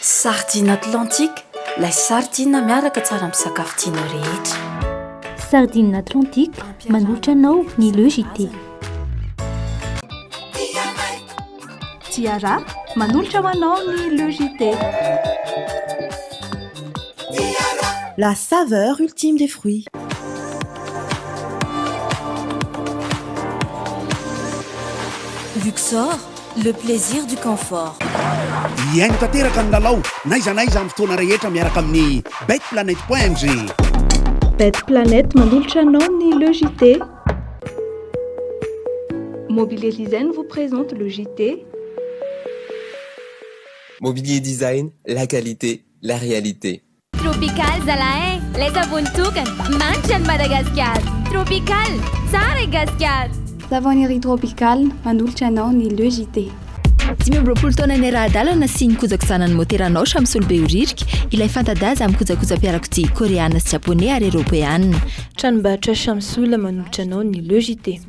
Sardine Atlantique, lay sardine miaraka tsara amin'ny sakafo tianao rehetra. Sardine Atlantique, manolotra anao ny Le JT. Ciara, manolotra ho anao ny Le JT. La saveur ultime des fruits. Luxor, Le plaisir du confort. Hihaino tanteraka ny lalao n'aiza n'aiza amin'ny fotoana rehetra miaraka amin'ny betplanet point ng. Betplanet manolotra anao ny Le JT. Mobilier Design vous présente le JT. Mobilier Design, la qualité, la réalité. Tropical zalah eh! Lay savony tokana! Manitra an'i Madagasikara! Tropical! Tsara i Gasikara! Savony ery Tropical! Manolotra anao ny Le JT. Dimy amby roapolo taona niara-hadalana sy nikojaky zanany motera Naosha misolo be ho ririka ilay fanta-daza amin'ny kojakoja-piarakodia Koreana sy Japoney ary Eropeana. Tranombarotra Shamsul manolotra anao ny Le JT.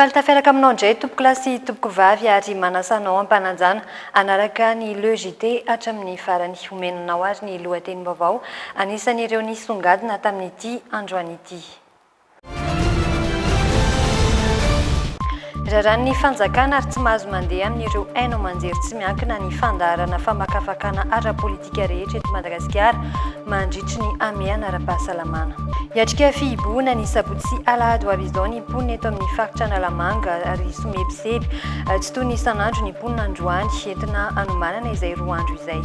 Faly tafiaraka aminao indray tompokolahy sy tompokovavy ary manasa anao ampananjana hanaraka ny Le JT hatramin'ny farany. Omena anao ary ny lohatenim-baovao anisan'ireo nisongadina tamin'ity androany ity. Raràn'ny fanjakana ary tsy mahazo mandeha amin'ireo haino aman-jery tsy miankina ny fandaharana famakafakana ara-politika rehetra eto Madagasikara mandritry ny hamehana ara-pahasalamana. Hiatrika fihibohana ny sabotsy sy alahady ho avy izao ny mponina eto amin'ny faritra Analamanga ary somebiseby tsy toy ny isan'andro ny mponina androany, entina hanomanana izay roa andro izay.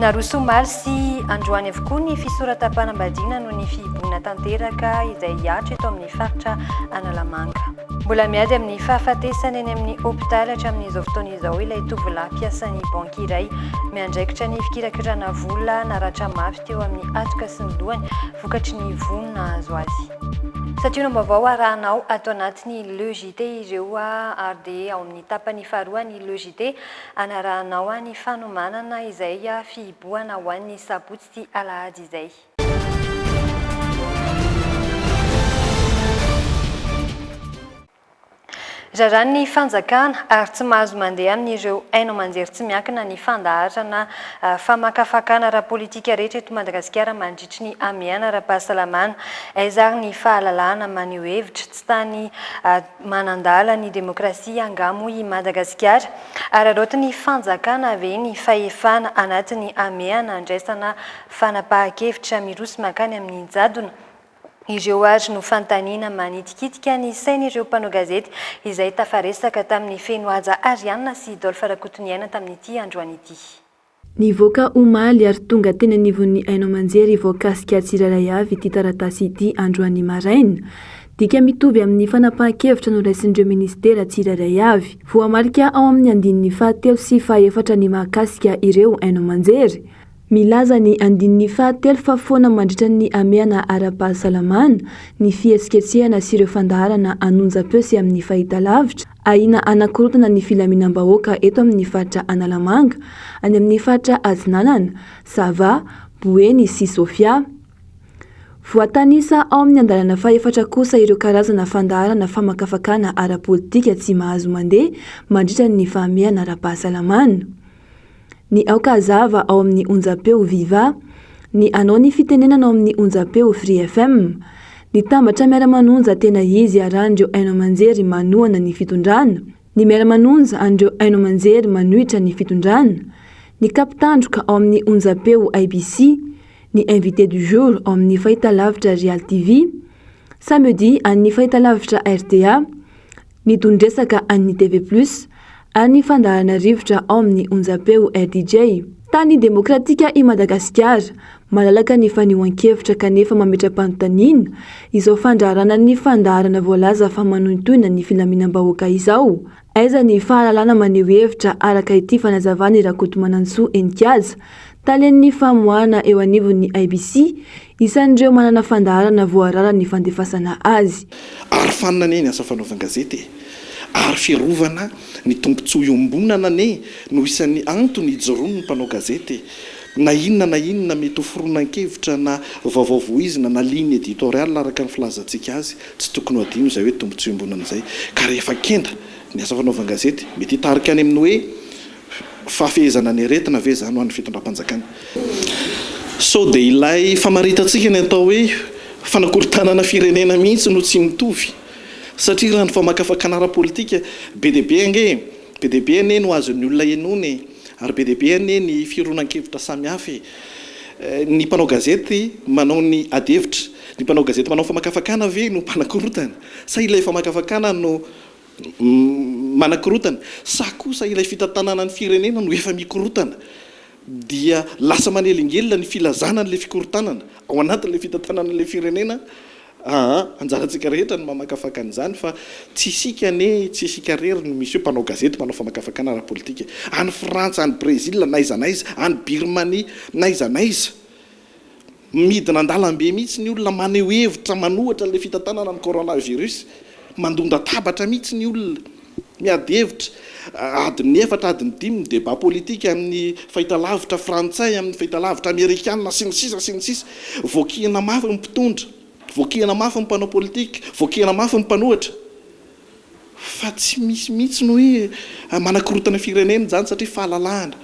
Naroso omaly sy androany avokoa ny fisoratam-panambadiana noho ny fihibohana tanteraka izay hihatra eto amin'ny faritra Analamanga. Mbola miady amin'ny fahafatesana eny amin'ny hopitaly hatramin'izao fotoana izao ilay tovolahy mpiasan'ny banky iray miandraikitra ny fikirakirana vola naratra mafy teo amin'ny hatoka sy ny lohany vokatry ny vono nahazo azy. Santiono am-baovao arahanao ato anatin'ny Le JT ireo ary dia ao amin'ny tapany faharoa ny Le JT Anarahanao any fanomanana izay fihibohana ho an'ny sabotsy sy alahady izay. Raràn'ny fanjakana ary tsy mahazo mandeha amin'ireo haino aman-jery tsy miankina ny fandaharana famakafakana ara-politika rehetra eto Madagasikara mandritry ny hamehana ara-pahasalamana. Aiza ary ny fahalalahana maneho hevitra? Tsy tany Manandala ny demokrasia angaha moa i Madagasikara? Araraotin'ny fanjakana ve ny fahefana anatiny hamehana handraisana fanapahan-kevitra miroso mankany amin'ny jadona? Ireo àry no fanontaniana manitikitika ny sain'ireo mpanao gazety izay tafaresaka tamin'ny feno haja Ariane sy Dolph Rakotoniaina tamin'ity androany ity. Nivoaka omaly ary tonga teny anivon'ny haino aman-jery voakasika tsirairay avy ity taratasy ity androany maraina. Dika mitovy amin'ny fanapahan-kevitra noraisin'ireo minisitera tsirairay avy. Voamarika ao amin'ny andininy fahatelo sy fahaefatra ny mahakasika ireo haino aman-jery. Milaza ny andininy fahatelo fa foana mandritra ny hamehana ara-pahasalamana, ny fihetsiketsehana sy ireo fandaharana an'onjam-peo sy amin'ny fahitalavitra, Ahiana hanakorontana ny filaminam-bahoaka eto amin'ny faritra Analamanga, any amin'ny faritra Atsinanana, Sava, Boeny sy Sofia. Voatanisa ao amin'ny andalana fahefatra kosa ireo karazana fandaharana famakafakana ara-politika tsy mahazo mandeha mandritra ny fahamehana ara-pahasalamana. Ny aoka hazava ao amin'ny onjam-peo Viva, ny anao ny fitenenana ao amin'ny onjam-peo Free FM. Ny tambatra miara-manonja tena izy iarahan'ireo haino aman-jery manohana ny fitondrana, ny miara-manonja an'ireo haino aman-jery manohitra ny fitondrana, ny kap tandroka ao amin'ny onjam-peo IBC, ny invité du jour ao amin'ny fahitalavitra Real TV, samedi an'ny fahitalavitra rta, Nitondresaka an'ny TV Plus any fandaharana rivotra ao amin'ny onjam-peo RDJ. Tany demokratika i Madagasikara, malalaka ny fanehoan-kevitra kanefa mametra-panontaniana izao fandraharana ny fandaharana voalaza fa manohintohina ny filaminam-bahoaka izao. Aiza ny fahalalana maneho hevitra araka ity fanazavan'i Rakotomanantsoa Henikaja, talen'ny famoahana eo anivon'ny IBC, Isan'ireo manana fandaharana voarara ny fandefasana azy. Arofanina anie ny asa fanaovan-gazety e! Ary fiarovana ny tombontsoa iombonana anie no isan'ny antony ijoroan'ny mpanao gazety na inona na inona mety ho foronan-kevitra na vaovao voizina na ligne editoriale araka ny filazantsika azy. Tsy tokony ho adino izay hoe tombontsoa iombonana izay ka rehefa kenda ny asa fanaovan-gazety mety hitarika any amin'ny hoe Fahafehezana ny aretina ve izany ho an'ny fitondram-panjakana? Sao dia ilay famaritantsika ny atao hoe fanakorontanana firenena mihitsy no tsy mitovy? Satria raha ny famakafakana ara-politika, be dia be ange e! Be dia be anie no azon'ny olona henoina e! Ary be dia be anie ny fironan-kevitra samihafa e! Ny mpanao gazety manao ny adihevitra, ny mpanao gazety manao famakafakana ve no mpanakorontana? Sa ilay famakafakana no. manakorontana, sa kosa ilay fitantanana ny firenena no efa mikorontana dia lasa manelingelina ny filazana an'ilay fikorontanana ao anatin'ilay fitantanana an'ilay firenena aa! anjarantsika rehetra ny mamakafaka an'izany fa tsy isika anie, tsy isika irery no misy eo, mpanao gazety, mpanao famakafakana ara-politika, any Frantsa, any Brezila, n'aiza n'aiza, any Birmania, n'aiza n'aiza, Midina an-dalambe mihitsy ny olona maneho hevitra manohitra ilay fitantanana ny coronavirus. Mandon-databatra mihitsy ny olona. Miady hevitra. Adin'ny efatra, adin'ny dimy ny débat politique amin'ny fahitalavitra frantsay, amin'ny fahitalavitra amerikana, sy ny sisa sy ny sisa. Voakihina mafy ny mpitondra. Voakihina mafy ny mpanao politika. Voakihina mafy ny mpanohitra. Fa tsy misy mihitsy ny hoe manakorontana firenena izany satria fahalalahana,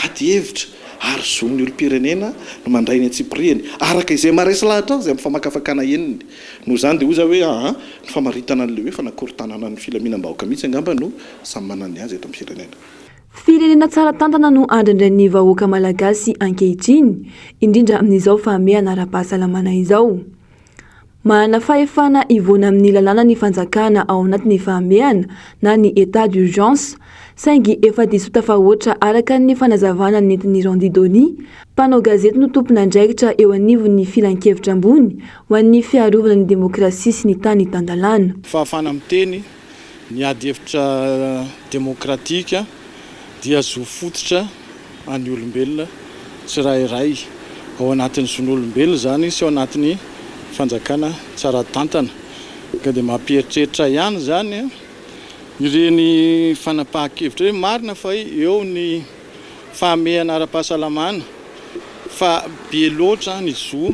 ady hevitra ary zon'ny olom-pirenena no mandray ny antsipirihany araka izay maharesy lahatra azy amin'ny famakafakana henony. Noho izany dia hoy za hoe aa ny famaritana an'ilay hoe fanakorontanana ny filaminam-bahoaka mihitsy angamba no samy manana ny azy eto amin'ny firenena. Firenena tsara tantana no andrandrain'ny vahoaka malagasy ankehitriny, indrindra amin'izao fahamehana ara-pahasalamana izao. Manana fahefana hivoana amin'ny lalàna ny fanjakana ao anatin'ny fahamehana na ny état d'urgence, saingy efa diso tafahoatra araka ny fanazavana nentin'i Randy Dony, mpanao gazety no tompon'andraikitra eo anivon'ny Filankevitra ambony ho an'ny fiarovana ny demokrasia sy ny tany tan-dalàna. Fahafahana miteny Ny ady hevitra demokratika dia zo fototra an'ny olombelona tsirairay. Ao anatin'ny zon'olombelona izany sy ao anatin'ny fanjakana tsara tantana. Ka dia mampieritreritra ihany izany ireny fanapahan-kevitra hoe marina fa eo ny fahamehana ara-pahasalamana fa be loatra ny zo.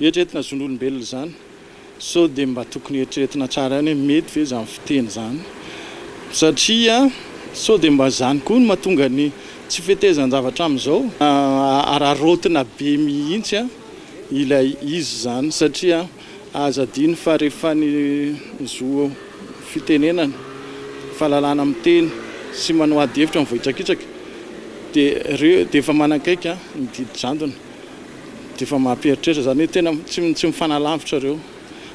Eritreretina zon'olombelona izany sao dia mba tokony eritreretina tsara ihany hoe mety ve izany fiteny izany satria sao dia mba izany koa no mahatonga ny tsy fetezan-javatra amin'izao. Araraotina be mihitsy ilay izy izany satria aza adino fa rehefa ny zo fitenenana, fahalalana miteny sy manao ady hevitra mivoitrakitsaka dia ireo dia efa manakaiky ny didy jadona. Dia efa mampieritreritra izany hoe tena tsy mifanalavitra ireo.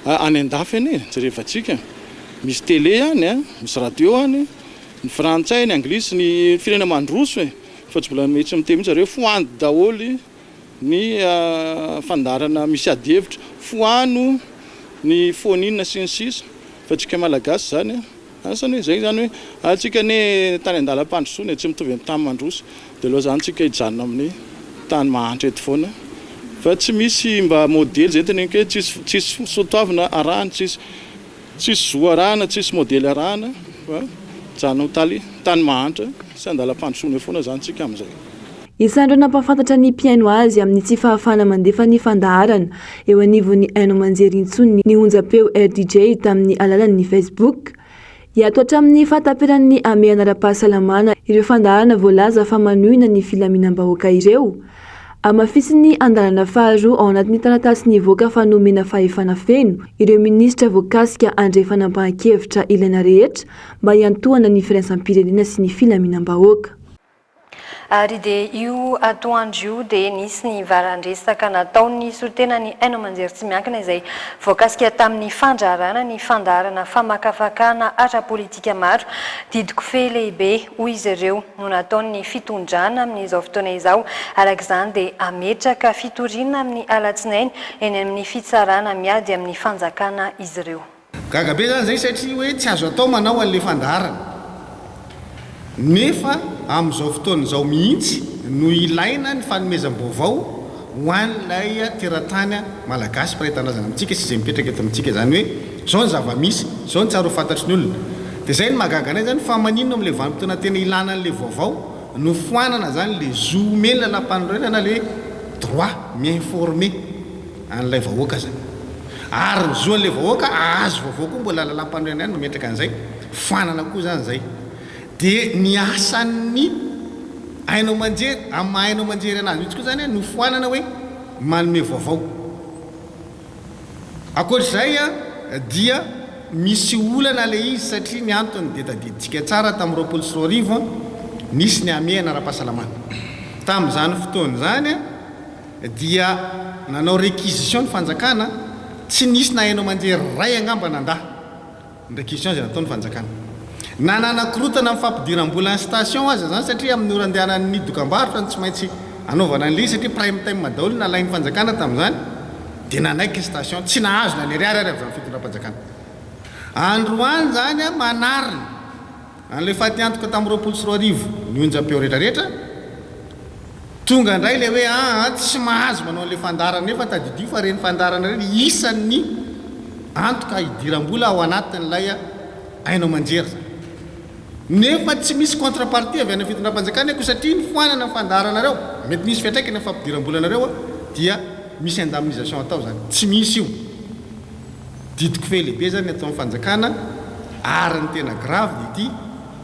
Any an-dafy any e, jerevantsika. Misy tele any a, misy radio any, ny frantsay, ny anglisy, ny firenena mandroso e. Fa tsy mbola mety miteny mihitsy zareo, foandy daholo ny fandaharana misy ady hevitra, foano ny phone-in sy ny sisa. Fa antsika malagasy izany a. Asa anie izay izany hoe antsika anie tany an-dalam-pandrosoana e, tsy mitovy amin'ny tany mandroso, dia aleo izany tsika hijanona amin'ny tany mahantra eto foana fa tsy misy mba modely izay teneniko hoe tsisy tsisy soatoavina arahana, tsisy tsisy zo arahana, tsisy modely arahana fa mijanona amin'ny tany tany mahantra sy an-dalam-pandrosoana eo foana izany tsika amin'izay. Isan'ireo nampahafantatra ny mpihaino azy amin'ny tsy fahafahana mandefa ny fandaharana eo anivon'ny haino aman-jery intsony ny onjampeo RDJ tamin'ny alalan'ny Facebook. Hiato hatramin'ny fahataperan'ny hamehana ara-pahasalamana ireo fandaharana voalaza fa manohina ny filaminam-bahoaka ireo. Hamafisin'ny andalana faharoa ao anatin'ny taratasy nivoaka fa nomena fahefana feno ireo minisitra voakasika handray fanapahan-kevitra ilaina rehetra mba hiantohana ny firaisam-pirenena sy ny filaminam-bahoaka. Ary dia io atoandro io dia nisy ny varan-dresaka nataon'ny solontenan'ny haino aman-jery tsy miankina izay voakasika tamin'ny fandraharahana ny fandaharana famakafakana ara-politika maro. Didy kofehy lehibe, hoy izy ireo, no nataon'ny fitondrana amin'izao fotoana izao. Araka izany dia hametraka fitoriana amin'ny alatsinainy eny amin'ny fitsarana miady amin'ny fanjakana izy ireo. Gaga be zany zay satria hoe tsy azo atao manao anle fandaharana nefa amin'izao fotoana izao mihitsy no ilaina ny fanomezam-baovao ho an'ilay teratany malagasy mpiray tanindrazana amintsika sy izay mipetraka eto amintsika zany hoe zao ny zava-misy zao ny tsara ho fantatry ny olona de zay no mahagaga anay zany fa maninona amle vanim-potoana tena ilana anle vaovao no foanana zany le zo omen'ny lalam-panorenana le droit mi-informer. an'ilay vahoaka izany. Ary ny zo an'ilay vahoaka ahazo vaovao koa mbola lalampanorenana ihany no metraka an'izay, fanana koa izany izay. Dia ny asan'ny haino aman-jery, amin'ny maha haino aman-jery anazy mihitsy koa izany no foanana hoe manome vaovao. Ankoatr'izay dia misy olana ilay izy satria ny antony dia tadidintsika tsara tamin'ny roapolo sy roa arivo nisy ny hamehana ara-pahasalamana. Tamin'izany fotoana izany, Dia nanao réquisition ny fanjakana, tsy nisy na haino aman-jery iray angamba nandà ny réquisition izay nataon'ny fanjakana. Na nanakorontana amin'ny fampidiram-bola ny station aza izany satria amin'ny ora andehanan'ny dokambarotra no tsy maintsy anaovana an'ilay izy satria prime time daholo no nalain'ny fanjakana tamin'izany dia nanaiky ny station. Tsy nahazo na ny ariary ary avy amin'ny fitondram-panjakana androany izany manarina. An'ilay fatiantoka tamin'ny roapolo sy roa arivo ny onjam-peo retraretra, tonga indray ilay hoe aa tsy mahazo manao an'ilay fandaharana nefa tadidio fa ireny fandaharana ireny isan'ny antoka hidiram-bola ao anatin'ilay haino aman-jery izany. Nefa tsy misy contre-partie avy any amin'ny fitondram-panjakana ko satria ny foanana ny fandaharanareo, mety misy fiantraikany amin'ny fampidiram-bolanareo dia misy indemnisation atao izany. Tsy misy io. Didiko fe lehibe zany ato am fanjakana ary ny tena grave dia ity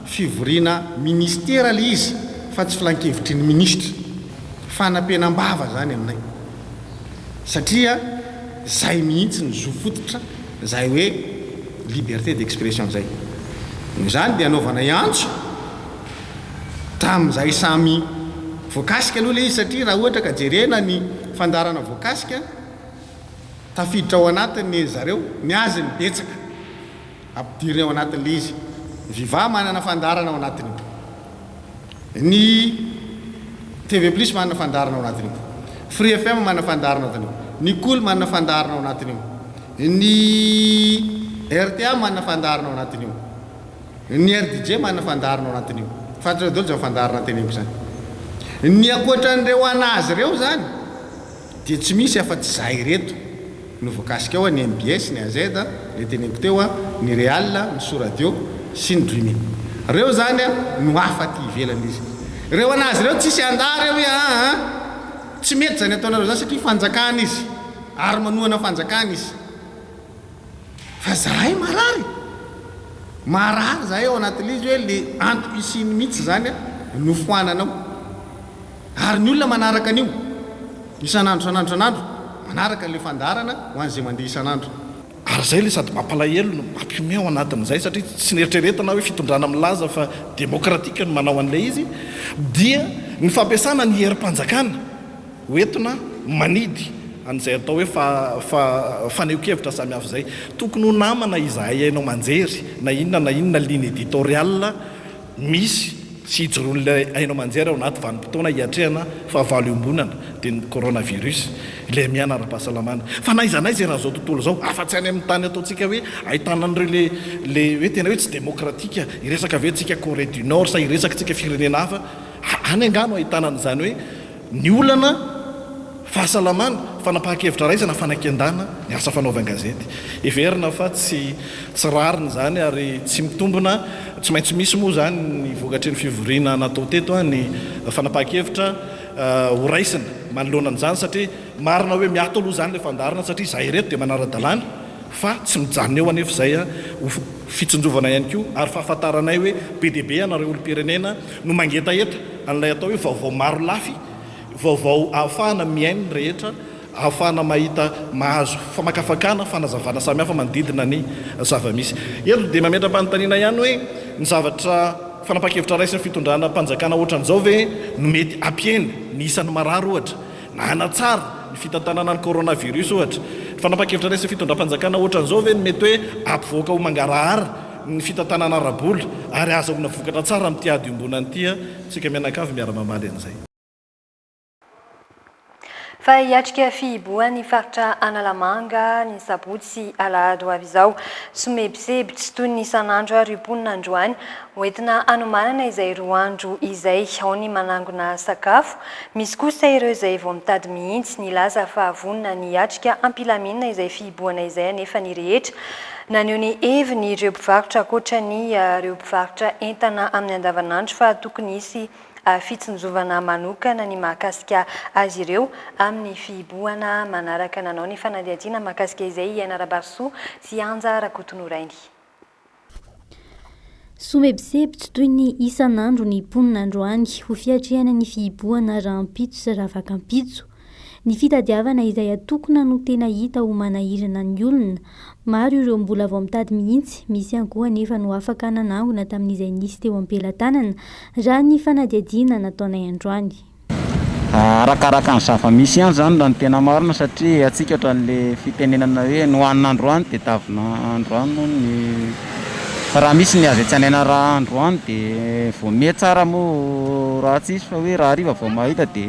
fivoriana ministera le izy fa tsy filankevitry ny ministra. Fanapenambava zany aminay satria zay mihitsy ny zo fototra zay hoe liberté d'expression zay. Noho izany dia anaovanay antso hatramin'izay samy voakasika aloha le izy satria raha ohatra ka jerena ny fandaharana voakasika. Tafiditra ao anatiny ry zareo, ny azy ny betsaka ampidiriny ao anatin'ilay izy. Ny viva manana fandaharana ao anatin'io. Ny TV plus manana fandaharana ao anatin'io. Free FM manana fandaharana ao anatin'io. Ny kol manana fandaharana ao anatin'io. Ny rta manana fandaharana ao anatin'io. Ny rdj manana fandaharana ao anatin'io. Fantatrareo daholo izany fandaharana teneniko izany. Ny ankoatran'ireo an'azy ireo izany. Dia tsy misy afa-tsy izahay ireto no voakasika ao, ny mbs, ny AZ, ilay teneniko teo, ny Real, ny Soradio sy ny Dreaming. Ireo izany no hafa aty ivelany izy ireo an'azy ireo tsisy handà ireo hoe aa tsy mety izany ataonareo izany satria fanjakana izy ary manohana fanjakana izy fa izahay marary marary izahay ao anatin'ilay izy hoe ilay antoko hisiany mihitsy izany no foanana ao. Ary ny olona manaraka an'io, isan'andro isan'andro isan'andro, manaraka an'ilay fandaharana ho an'izay mandeha isan'andro. Ary izay ilay sady mampalahelo no mampihomehy ao anatin'izay, satria tsy neritreretina hoe fitondrana milaza fa demokratika no manao an'ilay izy, dia ny fampiasana ny herim-panjakana ho entina manidy an'izay atao hoe fa, fa, fanehoan-kevitra samihafa izay. Tokony ho namana izahay haino aman-jery na inona na inona ligne editoriale. misy sy hijoroan'ilay haino aman-jery ao anaty vanim-potoana hiatrehana fahavalo iombonana, dia ny coronavirus, ilay miana ara-pahasalamana. Fa na iza na iza eran'izao tontolo izao, afa-tsy any amin'ny tany ataontsika hoe ahitana an'ireo ilay ilay hoe tena hoe tsy demokratika, hiresaka ve tsika Corée du Nord sa hiresaka tsika firenena hafa, any angaha no ahitana an'izany hoe, Ny olana, fahasalamana, fanapahan-kevitra raisana, fanakian-dana, ny asa fanaovan gazety. Heverina fa tsy tsy rariny izany ary tsy mitombina, tsy maintsy misy moa izany ny vokatry ny fivoriana natao teto, ny fanapahan-kevitra ho raisina manoloana an'izany satria marina hoe miato aloha izany ilay fandaharana satria izahay ireto dia manara-dalàna, Fa tsy mijanona eo anefa izay, ho fitsinjovana ihany koa ary fahafantaranay hoe be dia be ianareo olom-pirenena no mangetaheta an'ilay atao hoe vaovao marolafy, vaovao ahafahana mihaino ny rehetra, ahafahana mahita, mahazo famakafakana, fanazavana samihafa manodidina ny zava-misy. Eto dia mametra-panontaniana ihany hoe ny zavatra, fanapahan-kevitra raisin'ny fitondràna mpanjakana ohatran'izao ve no mety hampihena ny isan'ny marary ohatra? Nanatsara ny fitantanana ny coronavirus, ohatra, ny fanapan-kevitra raisin'ny fitondram-panjakana hoatran'izao ve no mety hoe hampivoaka ho mangarahara ny fitantanana ara-bola ary hahazoana vokatra tsara amin'ity ady iombonana ity isika mianakavy miara-mamaly an'izay? Fa hiatrika fihibohan'ny faritra Analamanga ny sabotsy sy alahady ho avy izao. Somebiseby tsy toy ny isan'andro àry io mponina androany. Hoentina hanomanana izay roa andro izay ao ny manangona sakafo, Misy kosa ireo izay vao mitady mihitsy ny hilaza fa vonona ny hiatrika am-pilaminana izay fihibohana izay anefa ny rehetra naneho ny heviny ireo mpivarotra ankoatra ny ireo mpivarotra entana amin'ny andavanandro fa tokony hisy fitsinjovana manokana ny mahakasika azy ireo amin'ny fihibohana manaraka nanao ny fanadihadiana mahakasika izay i Aina Rabarisoa sy Anja Rakotonorainy. Somebiseby tsy toy ny isan'andro ny mponina androany ho fiatrehana ny fihibohana rahampitso sy rahavakanpitso. Ny fitadiavana izay atokona no tena hita ho manahirana ny olona. Maro ireo mbola vao mitady mihitsy, misy ihany koa anefa no afaka nanangona tamin'izay nisy teo am-pelatanana, raha ny fanadihadiana nataonay androany. Arakaraka ny zava-misy ihany izany raha ny tena marina satria atsikaritra an'ilay fitenenana hoe ny hohanina androany dia tavina androany moa ny fa raha misy ny azo etsanaina raha androany dia vao miha tsara moa raha tsisy fa hoe raha hariva vao mahita dia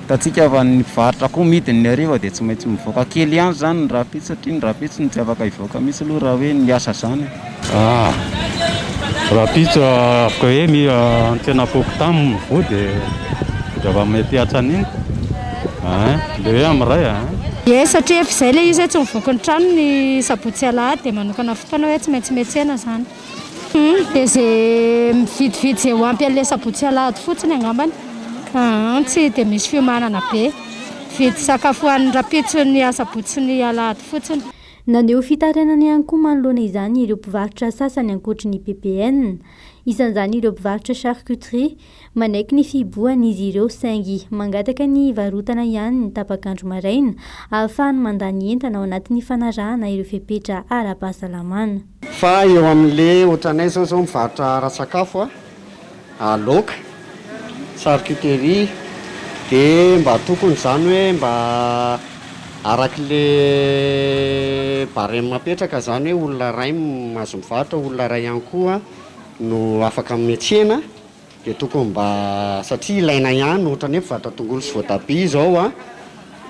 hitantsika fa ny mpivarotra koa midiny ny hariva dia tsy maintsy mivoaka kely ihany izany ny rahampitso satria ny rahampitso no tsy afaka hivoaka mihintsy aloha raha hoe miasa izany e. Ah, rapitso afaka hoe mi antsena foko tam voa de zava mety atsaniny ah le hoe am ray ah Ie, satria efa izay ilay izy hoe tsy mivoky ny trano ny sabotsy sy alahady dia manokana fotoana hoe tsy maintsy miantsena izany. Humm, dia izay mividividy izay ho ampy an'ilay sabotsy sy alahady fotsiny angambany. Aa, tsy dia misy fiomanana be. Mividy sakafo ho an'ny rapitso ny asabotsy sy ny alahady fotsiny. Naneho fitarainana ihany koa manoloana izany ireo mpivarotra sasany ankoatry ny PPN. Isan'izany ireo mpivarotra charcuterie. Manaiky ny fihibohana izy ireo saingy mangataka ny hivarotana ihany ny tapak'andro maraina ahafahany mandà ny entana ao anatin'ny fanarahana ireo fepetra ara-pahasalamana. Fa eo amin'le otranay zao zao mivarotra ara-tsakafo a. Aloka, charcuterie, de mba tokony zany hoe mba araky le barème apetraka zany hoe olona ray mahazo mivarotra, olona ray ihany koa no afaka metsena de tokony mba satria ilaina ihany otrany hoe mpivarotra tongolo sy voatabia zao an,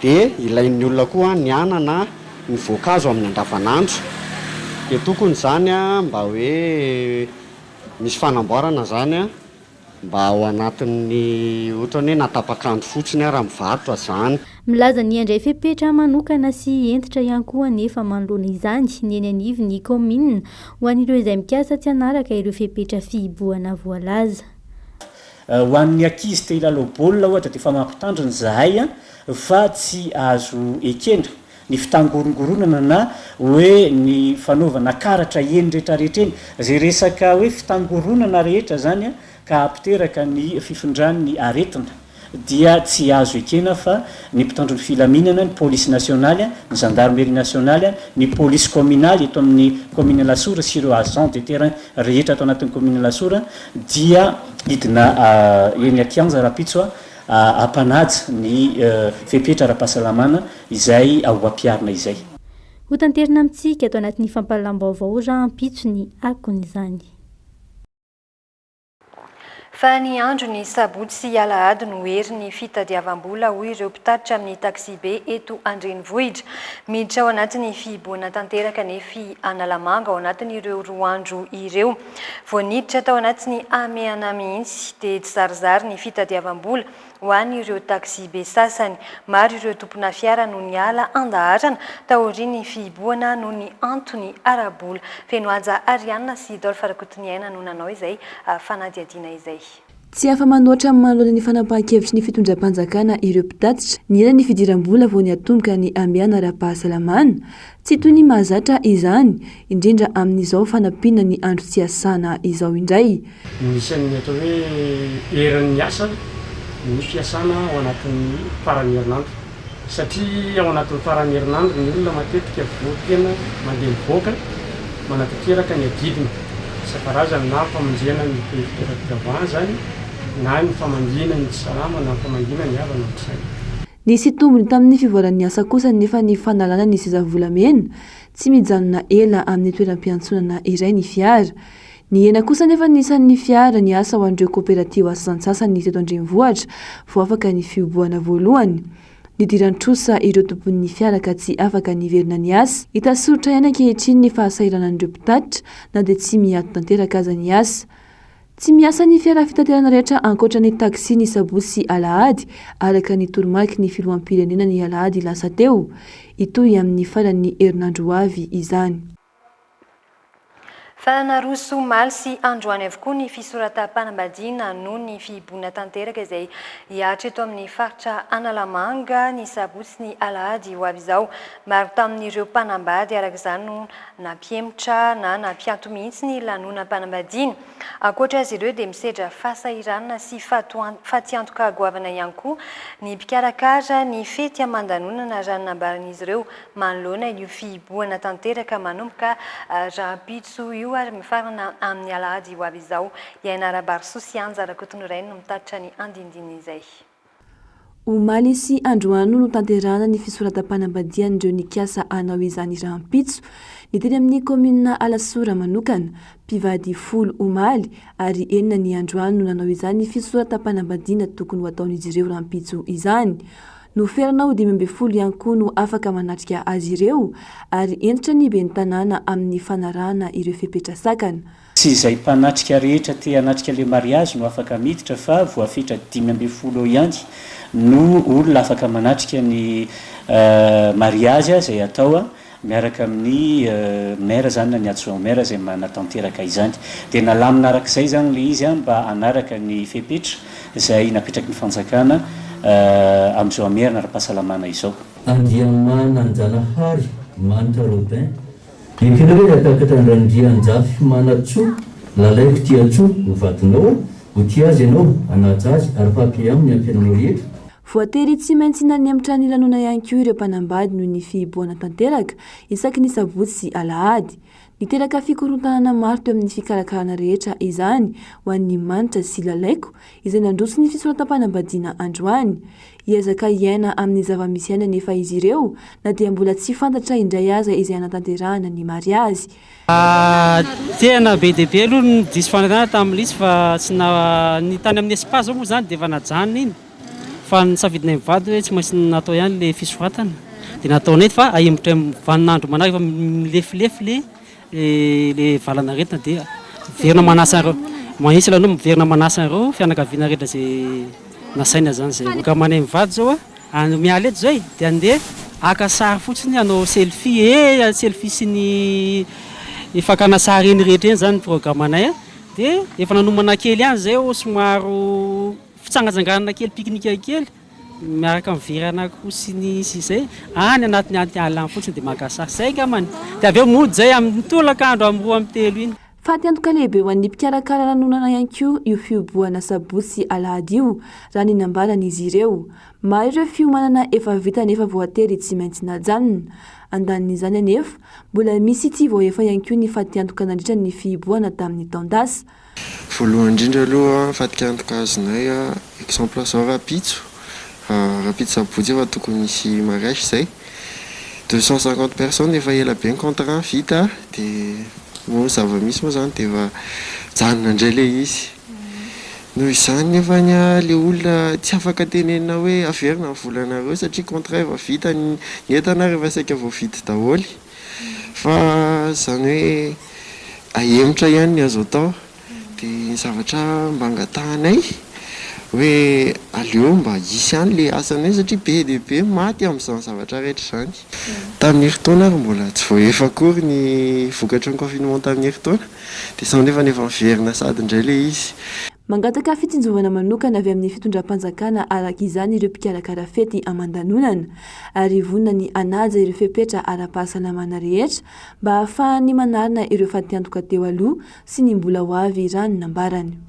de ilain'ny olona koa ny anana, ny voankazo amin'ny andavanandro, de tokony zany an mba hoe. Misy fanamboarana zany a mba ao anatin'ny otrany hoe na tapak'andro fotsiny ara mivarotra zany. Milaza ny handray fepetra manokana sy hentitra ihany koa anefa manoloana izany ny eny anivon'ny kaominina ho an'ireo izay mikasa tsy hanaraka ireo fepetra fihibohana voalaza. Ho an'ny ankizy te hilalao baolina ohatra dia efa mampitandrina izahay fa tsy azo ekena ny fitangorongoronana na hoe ny fanaovana karatra eny retraretra eny, zay resaka hoe fitangoronana rehetra zany ka apiteraka ny fifindran'ny aretina dia tsy azo ekena fa ny mpitandro ny filaminana, ny polisy nasionaly, ny zandarmeria nasionaly, ny polisy kaominaly eto amin'ny kaominina Alasora sy ireo agents de terrain rehetra ato anatin'ny kaominina Alasora dia hidina eny an-kianja rahampitso. hampanaja ny fepetra ara-pahasalamana izay ho ampiharina izay. Hotanterina amintsika ato anatin'ny fampahalalam-baovao rahampitso ny akon'izany. Fa ny andron'ny sabotsy sy alahady no hery ny fitadiavam-bola hoy ireo mpitatitra amin'ny taxi-be eto an-drenivohitra. Miditra ao anatin'ny fihibohana tanteraka anefa i Analamanga ao anatin'ireo roa andro ireo. Vao niditra tao anatin'ny hamehana mihitsy dia tsizarizary ny fitadiavam-bola ho an'ireo taxi-be sasany. Maro ireo tompona fiara no niala an-daharana taorian'ny fihibohana noho ny antony ara-bola. Fenohaja Arianna sy Dolph Rakotoniaina no nanao izay fanadihadiana izay. Tsy afa-manoatra amin'ny manoloana ny fanapahan-kevitry ny fitondram-panjakana ireo mpitatitra. Ny ela ny fidiram-bola vao niatomboka ny hamehana ara-pahasalamana. Tsy toy ny mahazatra izany, indrindra amin'izao fanampiana ny andro tsy hiasana izao indray. Ny isan'ny atao hoe eran'ny asa ny fiasana ao anatin'ny faran'ny herinandro. Satria ao anatin'ny faran'ny herinandro ny olona matetika voa tena mandeha mivoaka manatanteraka ny adidiny. Isan-karazany na famonjena ny be fitaovam-pivavahana izany na ny famangiana ny tsy salama na ny famangiana ny havana amin'ny saina. Nisy tombony tamin'ny fivoaran'ny asa kosa anefa ny fanalana ny seza volamena tsy mijanona ela amin'ny toeram-piantsonana iray ny fiara. Nihena kosa anefa ny isan'ny fiara niasa ho an'ireo kaoperatiba sasantsasany teto an-drenivohitra vao afaka ny fihobohana voalohany. Nidiran'ny trosa ireo tompon'ny fiara ka tsy afaka niverina niasa. Hita soritra ihany ankehitriny ny fahasahiranan'ireo mpitatitra na dia tsy miato tanteraka aza ny asa. Tsy miasa ny fiara fitaterana rehetra ankoatra ny taxi ny sabotsy sy alahady, araka ny toromarky ny filoham-pirenena ny alahady lasa teo. Hitohy amin'ny faran'ny herinandro ho avy izany. Fa naroso omaly sy androany avokoa ny fisoratam-panambadiana noho ny fihiboana tanteraka izay hihatra eto amin'ny faritra Analamanga ny sabotsy sy ny alahady ho avy izao. Maro tamin'ireo mpanambady araka izany no nampihemotra na nampiato mihitsy ny lanonam-panambadiana. Ankoatra azy ireo dia misedra fahasahiranana sy fatiantoka goavana ihany koa ny mpikarakara ny fety aman-danonana raha ny nambaran'izy ireo Manoloana io fihibohana tanteraka manomboka rahampitso io ary mifarana amin'ny alahady ho avy izao, i Ainara Barsu sy Anja Rakotonirainy no mitatitra ny andinindin'izay. Omaly sy androany no notanterahana ny fisoratam-panambadian'ireo nikasa hanao izany rahampitso, ny teny amin'ny kaominina Alasora manokana. Mpivady folo omaly ary enina ny androany no nanao izany fisoratam-panambadiana tokony ho ataon'izy ireo rahampitso izany. Noferana ho dimy ambin'ny folo ihany koa no afaka manatrika azy ireo ary hentitra ny ben'ny tanàna amin'ny fanarahana ireo fepetra sakana. Tsy izay mpanatrika rehetra te hanatrika le mariazy no afaka miditra fa voafetra dimy ambin'ny folo eo ihany no olona afaka manatrika ny mariazy izay atao miaraka amin'ny Maire izany na ny Adjoint au Maire izay manatanteraka izany. Dia nalamina araka izay izany ilay izy mba hanaraka ny fepetra izay napetraky ny fanjakana amin'izao hamerina ara-pahasalamana izao. Andriamananjanahary Manitra Robin, Ekenao hoe ratakatra an-dRandrianjafimana Tsoa, lalaiko tia Tsoa ho vadinao aho, ho tia azy ianao, hanaja azy ary ho happy aminy ny ampiainanao rehetra. Voatery tsy maintsy nanemitra ny lanonana ihany koa ireo mpanambady noho ny fihibohana tanteraka isaky ny sabotsy sy alahady. Niteraka fikorontanana maro teo amin'ny fikarakarana rehetra izany ho an'i Manitra sy Lalaiko izay nandroso ny fisoratam-panambadiana androany. Hiezaka hiaina amin'ny zava-misy ainy anefa izy ireo na dia mbola tsy fantatra indray aza izay hanatanterahana ny mariazy. Tena be dia be aloha ny diso fanantenana tamin'i Lisy fa tsy na, ny tany amin'ny spa izao moa izany dia efa najanona iny fa nisafidinay mivady hoe tsy maintsy natao ihany ilay fisoratana dia nataonay fa ahimbotry ny vaninandro manaraka fa milefilefy ilay ilay valanaretina dia miverina manasa an'ireo mahitsy ilay anao miverina manasa an'ireo fianakaviana rehetra izay nasaina izany izay. Ankamanay mivady izao Andro miala eto izay dia andeha haka sary fotsiny hanao selfie ee ny selfie sy ny ny fakana sary eny rehetra eny izany ny programanay a! dia efa nanomana kely ihany izay ô somaro fitsangatsanganana kely pique-nique kely miaraka amin'ny veran'akoho sy ny sy izay any anatin'ny atiala any fotsiny dia maka sary izay angambany dia avy eo mody izay amin'ny tolakandro amin'ny roa amby telo iny. Fatiantoka lehibe ho an'ny mpikarakara lanonana ihany koa io fihobohana sabotsy sy alahady io, raha ny nambaran'izy ireo. Maro ireo fiomanana efa vita nefa voatery tsy maintsy najanona. Andanin'izany anefa, mbola misy tsy voahefa ihany koa ny fatiantoka nandritra ny fihibohana tamin'ny taon-dasa. Voalohany indrindra aloha fatiantoka azonay exemple zao rahampitso, rahampitso sabotsy efa tokony hisy mariage zay. deux cent cinquante personnes efa ela be ny contrat vita dia moa ny zava-misy moa izany dia efa mijanona indray ilay izy. Noho izany nefa ny ahy ilay olona tsy afaka tenenina hoe averina ny volanareo satria contrat efa vita, ny entana ary efa saika voavidy daholo fa izany hoe ahemotra ihany ny azo atao. Dia ny zavatra mba angatahanay hoe aleo mba hisy ihany ilay asanay hoe satria be dia be ny maty amin'izany zavatra rehetra izany. Tamin'ny herintaona ary mbola tsy voaefa akory ny vokatry ny confinement tamin'ny herintaona dia izao nefa efa miverina sahady indray ilay izy. Mangataka fitsinjovana manokana avy amin'ny fitondram-panjakana araka izany ireo mpikarakara fety aman-danonana ary vonona ny hanaja ireo fepetra ara-pahasalamana rehetra mba hahafahan'ny manarina ireo fatiantoka teo aloha sy ny mbola ho avy raha ny nambarany.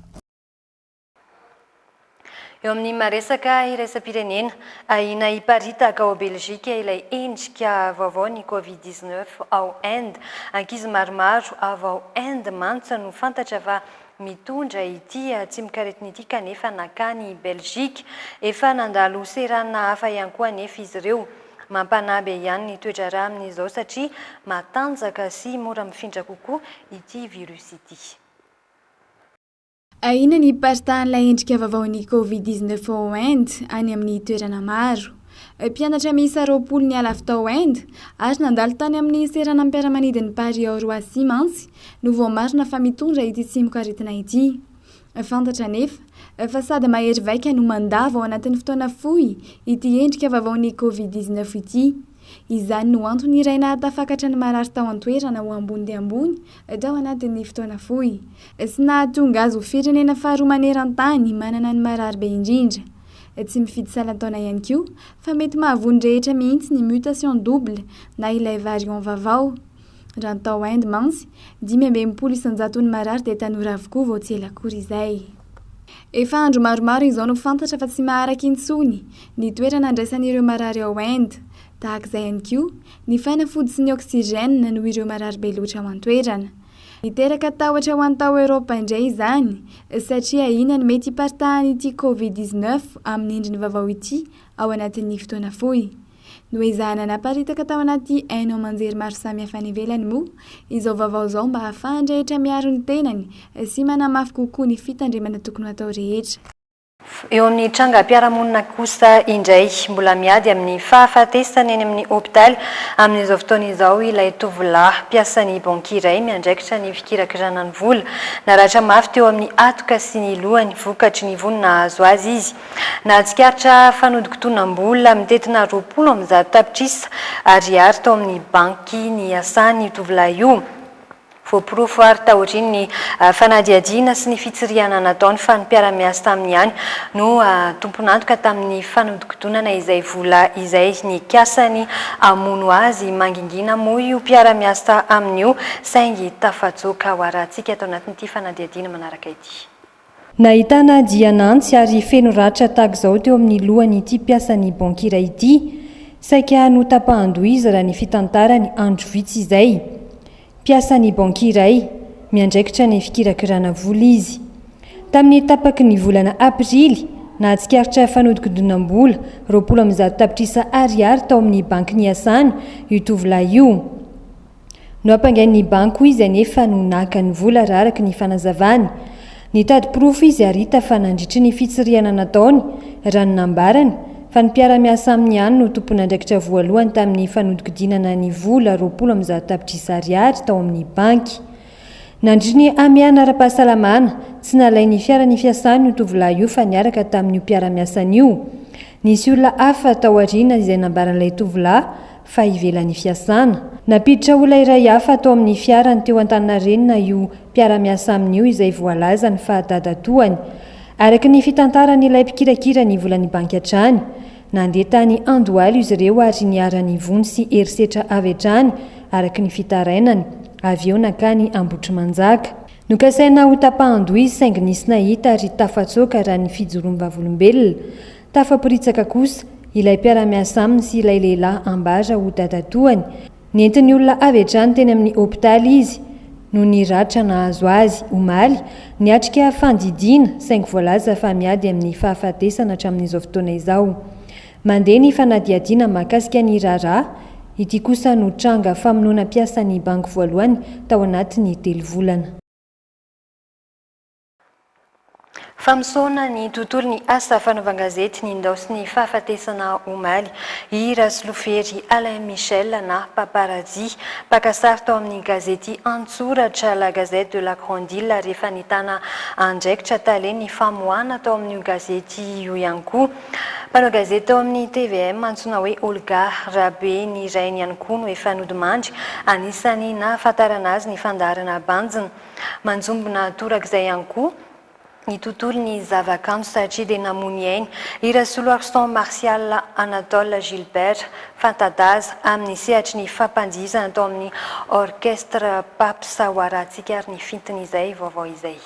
Eo amin'ny maha-resaka iraisam-pirenena, ahiana hiparitaka ao Belgique ilay endrika vaovaon'ny Covid dix neuf ao Inde. Ankizy maromaro avy ao Inde mantsy no fantatra fa mitondra ity tsimok'aretina ity kanefa nankany Belgique. Efa nandalo seranana hafa ihany koa anefa izy ireo. Mampanahy be ihany ny toedraharaha amin'izao satria matanjaka sy mora mifindra kokoa ity virus ity. Ahiana ny hiparitahan'ilay endrika vaovaon'ny Covid dix neuf ao Inde any amin'ny toerana maro. Mpianatra miisa roapolo niala avy tao Inde ary nandalo tany amin'ny seranam-piaramanidin'i Paris ao Roissy mantsy no voamarina fa mitondra ity tsimokaretina ity. Fantatra anefa, fa sady mahery vaika no mandava ao anatin'ny fotoana fohy ity endrika vaovaon'ny Covid dix neuf ity. Izany no antony iray nahatafakatra ny marary tao an-toerana ho ambony dia ambony tao anatin'ny fotoana fohy, sy nahatonga azy ho firenena faharoa maneran-tany manana ny marary be indrindra. Tsy mifidy salan-taona ihany koa, fa mety mahavoa ny rehetra mihitsy ny mutation double na ilay variant vavao. Raha ny tao Inde mantsy, dimy amby enimpolo isan-jaton'ny marary dia tanora avokoa vao tsy ela akory izay. Efa andro maromaro izao no fantatra fa tsy maharaka intsony ny toerana andraisan'ireo marary ao Inde. Tahaka izay ihany koa, ny fanafody sy ny oxygène noho ireo marary be loatra ao an-toerana. Niteraka tahotra ho an'ny tao Eoropa indray izany satria ahiana ny mety hiparitahan'ity Covid dix-neuf amin'ny endriny vaovao ity ao anatin'ny fotoana fohy. Noezahana naparitaka tao anaty haino aman-jery maro samihafa any ivelany moa izao vaovao izao mba hahafahan'ny rehetra miaro ny tenany sy manamafy kokoa ny fitandremana tokony ho atao rehetra. Eo amin'ny trangam-piarahamonina kosa indray, mbola miady amin'ny fahafatesana eny amin'ny hopitaly amin'izao fotoana izao ilay tovolahy mpiasan'ny banky iray miandraikitra ny fikirakirana ny vola. Naratra mafy teo amin'ny hatoka sy ny lohany vokatry ny vono nahazo azy izy. Nahatsikaritra fanodinkodinam-bola mitentina roapolo amby zato tapitrisa ariary tao amin'ny banky niasany io tovolahy io. Voaporofo àry taorian'ny fanadihadiana sy ny fitsirihana nataony fa ny mpiara-miasa taminy ihany no tompon'antoka tamin'ny fanodinkodinana izay vola izay. Nikasany hamono azy mangingina moa io mpiara-miasa aminy io saingy tafatsoaka. Hoarahantsika ato anatin'ity fanadihadiana manaraka ity. Nahitana dian'antsy ary feno ratra tahak'izao teo amin'ny lohan'ity mpiasan'ny banky iray ity. Saika notapahan-doha izy raha ny fitantarany andro vitsy izay. Mpiasan'ny banky iray, miandraikitra ny fikirakirana vola izy. Tamin'ny tapaky ny volana aprily, nahatsikaritra fanodinkodinam-bola roapolo amby zato tapitrisa ariary tao amin'ny banky niasany io tovolahy io. Nohampangain'ny banky izy anefa no naka ny vola raha araka ny fanazavany. Nitady porofo izy ary hita fa nandritry ny fitsirihana nataony, raha ny nambarany, fa ny mpiara-miasa aminy ihany no tompon'andraikitra voalohany tamin'ny fanodinkodinana ny vola roapolo amby zato tapitrisa ariary tao amin'ny banky. Nandritry ny hamehana ara-pahasalamana, tsy nalain'ny fiara nifiasany io tovolahy io fa niaraka tamin'io mpiara-miasany io. Nisy olona hafa tao aoriana izay nambaran'ilay tovolahy fa ivelan'ny fiasana. Nampiditra olona iray hafa tao amin'ny fiarany teo Antaninarenina io mpiara-miasa aminy io izay voalazany fa dadatoany. Araka ny fitantaran'ilay mpikirakira ny volan'ny banky hatrany, nandeha tany Andohalo izy ireo ary niharan'ny vono sy herisetra avy hatrany araka ny fitarainany, avy eo nankany Ambohitrimanjaka. Nokasaina ho tapahan-doha izy saingy nisy nahita ary tafatsoaka raha ny fijoroan'ny Vavolombelona. Tafaporitsaka kosa ilay mpiara-miasa aminy sy ilay lehilahy ambara ho dadatoany. Nentin'ny olona avy hatrany teny amin'ny hopitaly izy noho ny ratra nahazo azy. Omaly, niatrika fandidiana saingy voalaza fa miady amin'ny fahafatesana hatramin'izao fotoana izao. Mandeha ny fanadihadiana mahakasika ny raharaha. Ity kosa no tranga famonoana mpiasan'ny banky voalohany tao anatin'ny telo volana. Famosoana ny tontolon'ny asa fanaovan-gazety ny ndao sy ny fahafatesana omaly i Rasolofery Alain Michel na Paparazzi, mpaka sary tao amin'ny gazety an-tsoratra La Gazette de la Grande Ile rehefa nitana andraikitra tale ny famoahana tao amin'io gazety io ihany koa. Mpanao gazety tao amin'ny tvm antsoina hoe Olga Rabe ny rainy ihany koa no efa nodimandry. Anisan'ny nahafantarana azy ny fandaharana Banjina. Manjombona torak'izay ihany koa ny tontolon'ny zavakanto satria dia namono ainy i Rasoloarison Martial Anatole Gilbert, fanta-daza amin'ny sehatry ny fampandihizana tao amin'ny Orchestre Paps Waratsika ary ny fintin'izay vaovao izay.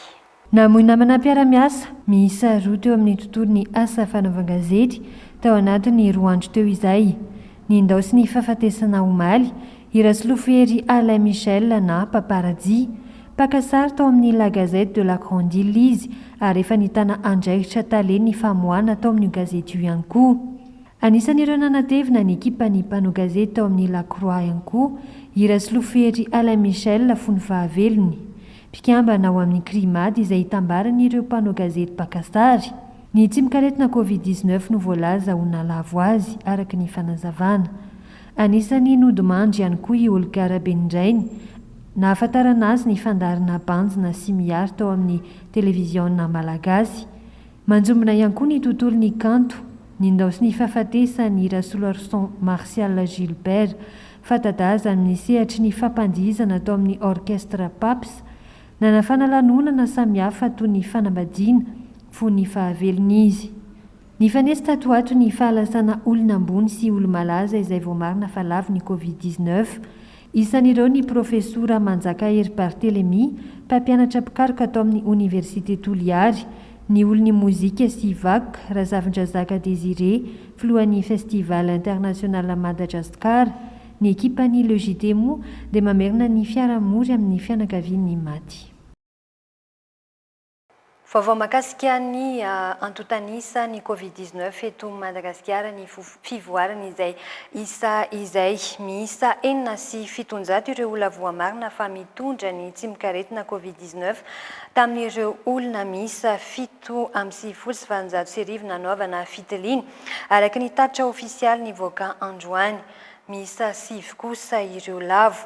Namoy namana mpiara-miasa miisa roa teo amin'ny tontolon'ny asa fanaovan-gazety tao anatin'ny roa andro teo izay. Nindaosin'ny hifahafatesana omaly i Rasolofo Hery Alain Michel na Papa Rajia. Mpaka sary tao amin'ny La Gazette de la Grande Ile izy ary efa nitana andraikitra tale ny famoahana tao amin'io gazety io ihany koa. Anisan'ireo nanatevina ny ekipan'ny mpanao gazety tao amin'ny La Croix ihany koa i Rasolofo Hery Alain Michel fony fahavelony. mpikambana ao amin'ny Crimad izay itambaran'ireo mpanao gazety mpaka sary. Ny tsimokaretina Covid dix neuf no voalaza ho nahalavo azy, araka ny fanazavana. Anisan'ny nodimandry ihany koa i Olga Rabenindrainy, nahafantarana azy ny fandaharana Banjina sy Mihary tao amin'ny televiziona malagasy. Manjombona ihany koa ny tontolon'ny kanto, ny ndao sy ny fahafatesan' i Rasoloarison Martial Gilbert, fanta-daza amin' ny sehatry ny fampandihizana tao amin' ny Orchestre Paps. Nanafana lanonana samihafa toy ny fanambadiana, fony ny fahavelony izy. Nifanesy tato ho ato ny fahalasana olona ambony sy olo-malaza izay voamarina fa lavo ny Covid dix-neuf. Isan'ireo ny Profesora Manjakahery Barthelemy, mpampianatra mpikaroka ato amin'ny Oniversite Toliary, ny olon'ny mozika sy vak, Razafindrazaka Désiré, filohan'ny Festival International Madajaskar. Ny ekipan'ny Le JT moa dia mamerina ny fiaraha-mory amin'ny fianakavian'ny maty. Vaovao mahakasika ny antontan'isa ny Covid dix neuf eto Madagasikara ny fivoarany izay isa izay. Miisa enina sy fitonjato ireo olona voamarina fa mitondra ny tsimokaretina Covid dix neuf tamin'ireo olona miisa fito amby sivifolo sy valonjato sy arivo nanaovana fitiliana, araka ny tatitra ofisialy nivoaka androany. Miisa sivy kosa ireo lavo.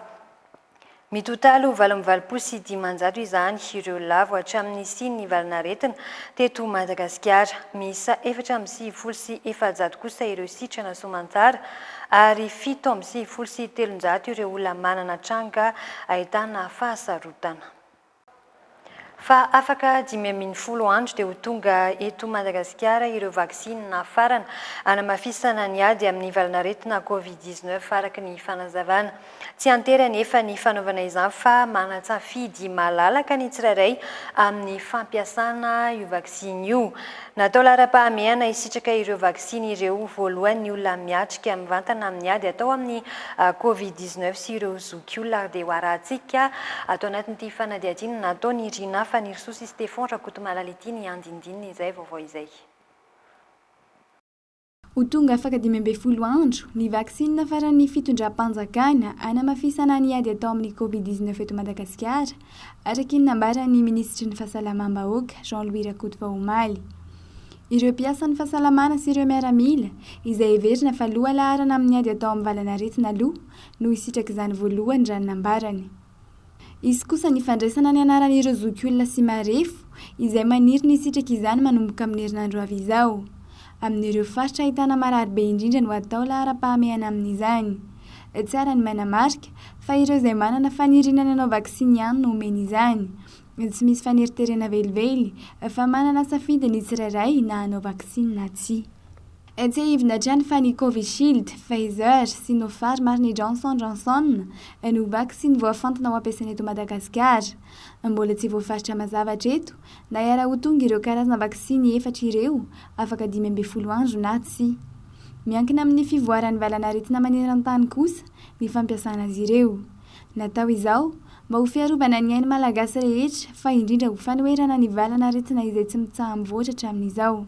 Mitotaly ho valo amby valopolo sy dimanjato izany ireo lavo hatramin'ny nisian'ny valan'aretina teto Madagasikara. Miisa efatra amby sivifolo sy efajato kosa ireo sitrana soamantsara ary fito amby sivifolo sy telonjato ireo olona manana tranga ahitana fahasarotana. Fa afaka dimy ambin'ny folo andro dia ho tonga eto Madagasikara ireo vaksiny nafarana hanamafisana ny ady amin'ny valan'aretina Covid dix-neuf, araka ny fanazavana. Tsy an-tery anefa ny fanaovana izany fa manan-tsafidy malalaka ny tsirairay amin'ny fampiasana io vaksiny io. Natao laharam-pahamehana hisitraka ireo vaksiny ireo voalohany ny olona miatrika mivantana amin'ny ady atao amin'ny Covid dix neuf sy ireo zokiolona ary dia ho arahantsika ato anatin'ity fanadihadiana nataon'i Rinah Fanirisoa sy Stephon Rakotomalala ity ny andinindininy izay vaovao izay. Ho tonga afaka dimy ambin'ny folo andro ny vaksinina faran'ny fitondram-panjakana hanamafisana ny ady atao amin'ny Covid dix neuf eto Madagasikara, araka ny nambaran'ny minisitry ny Fahasalamam-bahoaka, Jean Louis Rakotovao omaly. Ireo mpiasan'ny fahasalamana sy ireo miaramila, izay heverina fa lohalaharana amin'ny ady atao amin'ny valan'aretina aloha, no hisitrak'izany voalohany raha ny nambarany. Hisy kosa ny fandraisana ny anaran'ireo zokiolona sy marefo izay maniry ny hisitraka izany manomboka amin'ny herinandro avy izao. Amin'ireo faritra ahitana marary be indrindra no hatao laharam-pahamehana amin'izany. Tsara ny manamarika fa ireo izay manana faniriana ny hanao vaksiny ihany no omena izany. Tsy misy faneriterena velively fa manana safidy ny tsirairay na hanao vaksiny na tsia. Etsehivina hatrany fa ny Covishield, Pfizer, Sinopharm ary ny Johnson Johnson no vaksiny voafantina ho ampiasaina eto Madagasikara. Mbola tsy voafaritra mazava hatreto na hiara ho tonga ireo karazana vaksiny efatra ireo afaka dimy ambin'ny folo andro na tsia. Miankina amin'ny fivoaran'ny valan'aretina maneran-tany kosa ny fampiasana azy ireo. Natao izao mba ho fiarovana ny ain'ny Malagasy rehetra fa indrindra ho fanoherana ny valan'aretina izay tsy mitsaha-mivoatra hatramin'izao.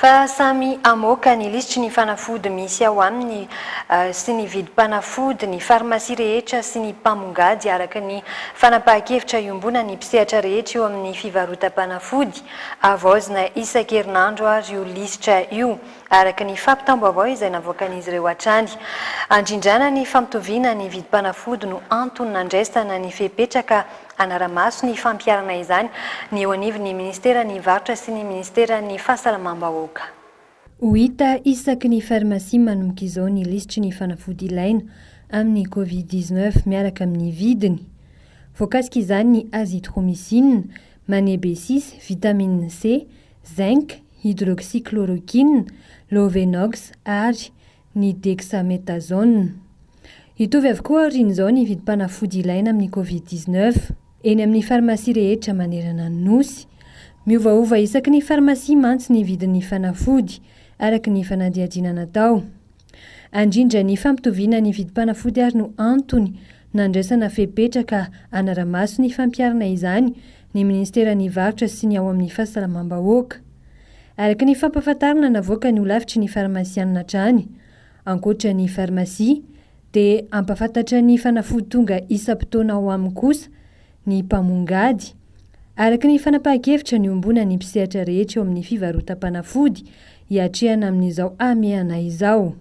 Fa samy hamoaka ny lisitry ny fanafody misy ao aminy sy ny vidim-panafody ny farmasia rehetra sy ny mpamongady araka ny fanapahan-kevitra iombonan'ny mpisehatra rehetra eo amin'ny fivarotam-panafody. Havaozina isan-kerinandro ary io lisitra io araka ny fampitam-baovao izay navoakan'izy ireo hatrany. Handrindrana ny fampitoviana ny vidim-panafody no antony nandraisana ny fepetra ka hanara-maso ny fampiharana izany ny eo anivon'ny Ministeran'ny Varotra sy ny Ministeran'ny Fahasalamam-bahoaka. Ho hita isaky ny farmasia manomboka izao ny lisitry ny fanafody ilaina amin'ny Covid dix neuf miaraka amin'ny vidiny. Voakasika izany ny azithromycine, manebesis, vitamine C, zinc, hydroxychloroquine, lovenox ary. ny dexamethasone. Hitovy avokoa aorian'izao ny vidim-panafody ilaina amin'ny Covid dix neuf, eny amin'ny farmasia rehetra manerana ny Nosy. Miovaova isaky ny farmasia mantsy ny vidin'ny fanafody, araka ny fanadihadiana natao. Andrindra ny fampitoviana ny vidim-panafody ary no antony nandraisana fepetra ka hanara-maso ny fampiharana izany ny Ministeran'ny Varotra sy ny ao amin'ny Fahasalamam-bahoaka. Araka ny fampahafantarana navoakan'ny holafitry ny farmasianina hatrany, ankoatra ny farmasia dia hampahafantatra ny fanafody tonga isam-potoana ao aminy kosa ny mpamongady. Araka ny fanapahan-kevitra niombonan'ny mpisehatra rehetra eo amin'ny fivarotam-panafody hiatrehana amin'izao hamehana izao.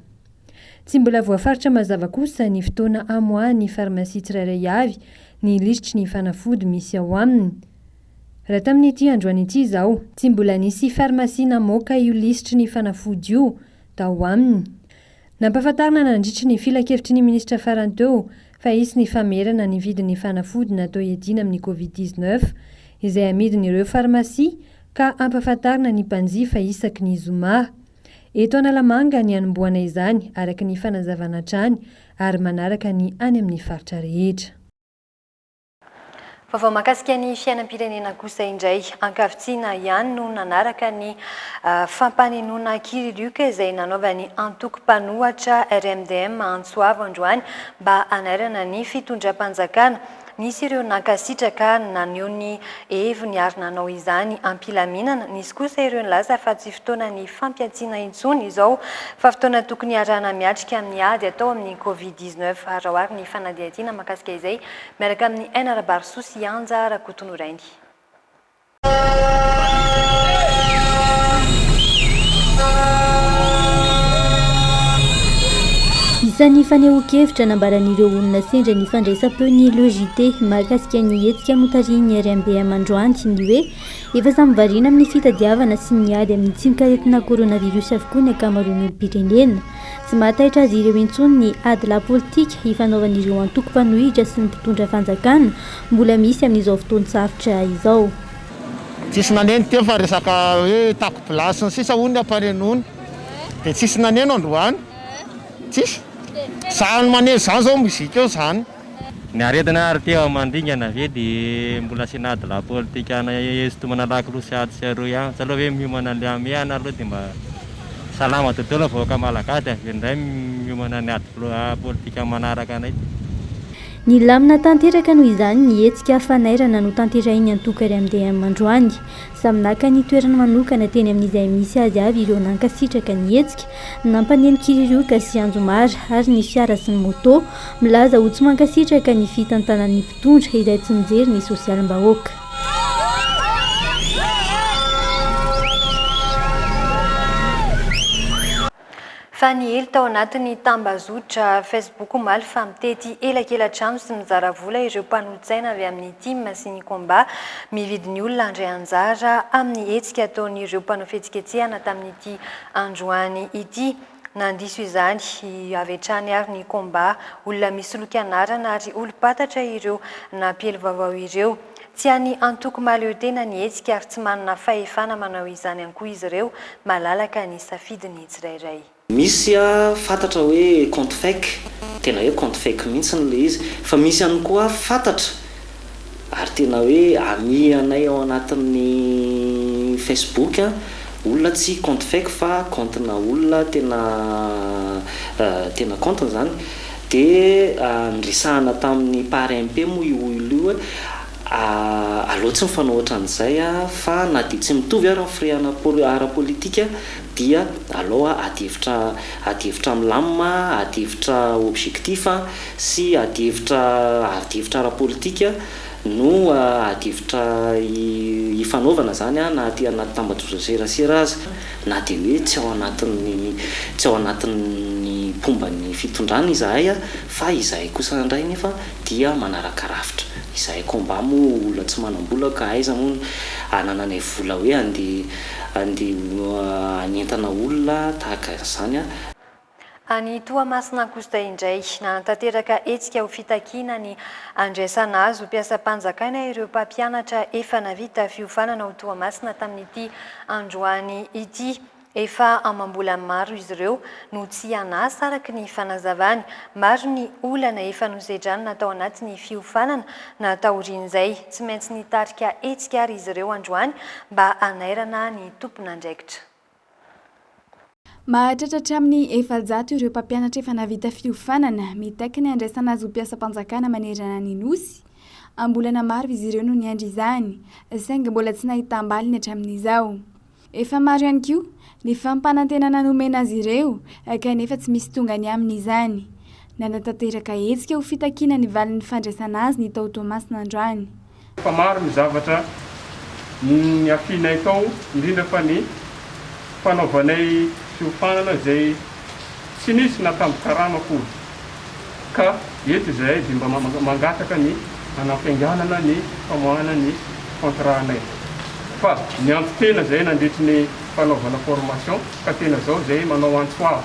Tsy mbola voafaritra mazava kosa ny fotoana hamoahan'ny farmasia tsirairay avy ny lisitry ny fanafody misy ao aminy. Raha tamin'ity androany ity izao, tsy mbola nisy farmasia namoaka io lisitry ny fanafody io tao aminy. Nampahafantarina nandritry ny filankevitry ny minisitra farany teo fa hisy ny famerana ny vidin'ny fanafody natao hiadiana amin'ny Covid dix neuf izay amidin'ireo farmasia ka hampahafantarina ny mpanjifa isaky ny zoma. Eto Analamanga ny hanombohana izany araka ny fanazavana hatrany ary manaraka ny any amin'ny faritra rehetra. Vaovao mahakasika ny fiainam-pirenena kosa indray. Ankavitsiana ihany no nanaraka ny fampanenoana kiririoka izay nanaovan'ny antoko mpanohatra RMDM Antsoavo androany mba hanairana ny fitondram-panjakana. Nisy ireo nankasitraka ary naneho ny heviny ary nanao izany am-pilaminana. Nisy kosa ireo nilaza fa tsy fotoanan'ny fampiantsiana intsony izao fa fotoana tokony hiarahana miatrika amin'ny ady atao amin'ny Covid dix-neuf. Raohary ny fanadihadiana mahakasika izay miaraka amin'i Aina Rabarosoa sy Anja Rakotonirainy. Isan'ny fanehoan-kevitra nambaran'ireo olona sendra ny fandraisam-peo ny Le JT mahakasika ny hetsika notarihin'ny RMBM androany ny hoe efa samy variana amin'ny fitadiavana sy ny ady amin'ny tsinonkaretina coronavirus avokoa ny ankamaroan'ny olom-pirenena. Tsy mahataitra azy ireo intsony ny adilahy politika ifanaovan'ireo antoko mpanohitra sy ny mpitondra fanjakana mbola misy amin'izao fotoan-tsarotra izao. Tsisy naneno teo fa resaka hoe tako plat sy ny sisa hono ny ampanenoana dia tsisy naneno androany tsisy sahy ny maneno izany izao musique eo izany. Ny aretina ary te hamandringana ve dia mbola asiana ady lahy politika ana hisintomana lakolosy atsy sy aroa ihany tsy aleo ve miomana an'ilay hamehana aloha dia mba salama dodolo ny vahoaka malagasy dia avy eo indray miomana ny ady politika manaraka anay. Nilamina tanteraka noho izany ny hetsika fanairana notanterahin'ny antoko RMDM androany. Samy naka ny toerany manokana teny amin'izay misy azy avy ireo nankasitraka ny hetsika, nampaneno kiririoka sy anjomara ary ny fiara sy ny moto, milaza ho tsy mankasitraka ny fitantanan'ny mpitondra izay tsy mijery ny sosialim-bahoaka. Fa niely tao anatin'ny tambazotra Facebook omaly fa mitety elakela-trano sy mizara vola ireo mpanolotsaina avy amin'ny Tim sy ny Combat. Mividy ny olona handray anjara amin'ny hetsika ataon'ireo mpanao fihetsiketsehana tamin'ity androany ity. Nandiso izany avy hatrany ary ny Combat. Olona misoloky anarana ary olom-patatra ireo nampiely vaovao ireo. Tsy any antoko mahaleo tena ny hetsika ary tsy manana fahefana manao izany ihany koa izy ireo, malalaka ny safidin'ny tsirairay. Misy fantatra hoe compte fake, tena hoe compte fake mihitsy ny ilay izy, fa misy ihany koa fantatra ary tena hoe ami anay ao anatin'ny Facebook olona tsy compte fake fa compte-na olona tena tena compte-ny izany Dia niresahana tamin'ny Parempe moa io olona io hoe aleo tsy mifanao ohatran'izay fa na dia tsy mitovy ary ny firehana ara-politika dia aleo ady hevitra ady hevitra milamina, ady hevitra objectif sy ady hevitra ady hevitra ara-politika no ady hevitra hifanaovana izany na aty anaty tambajotran-tserasera aza. Na dia hoe tsy ao anatin'ny tsy ao anatin'ny mpomba ny fitondrana izahay fa izahay kosa indray anefa dia manaraka rafitra. Izahay combat moa olona tsy manam-bola ka aiza moa no anananay vola hoe andeha andeha hanentana olona tahaka an'izany. Any Toamasina Ankozotahy indray, nanatanteraka hetsika ho fitakiana ny handraisana azy ho mpiasam-panjakana ireo mpampianatra efa navita fiofanana ao Toamasina tamin'ity androany ity. Efa amam-bolany maro izy ireo no tsy an'asa araka ny fanazavany. Maro ny olana efa nosedranina tao anatin'ny fiofanana na taorian'izay. Tsy maintsy nitarika hetsika ary izy ireo androany mba hanairana ny tompon'andraikitra. Mahatratra hatramin'ny efajato ireo mpampianatra efa navita fiofanana, mitaky ny handraisana azy ho mpiasam-panjakana manerana ny Nosy. Am-bolana maro izy ireo no niandry izany, saingy mbola tsy nahitam-baliny hatramin'izao. Efa maro ihany koa ny fampanantenana nomena azy ireo, kanefa tsy misy tonga ny aminy izany. Nanatanteraka hetsika ho fitakiana ny valin'ny fandraisana azy ny tao Toamasina androany. Fa maro ny zavatra niafianay tao, indrindra fa ny fanaovanay fiofanana izay tsy nisy natambin-karama akory. Ka eto izahay dia mba mangataka ny hanampiainganana ny famoahana ny contrat-nay. Fa niampy tena izahay nandritry ny fanaovana formation ka tena izao izahay manao antso avo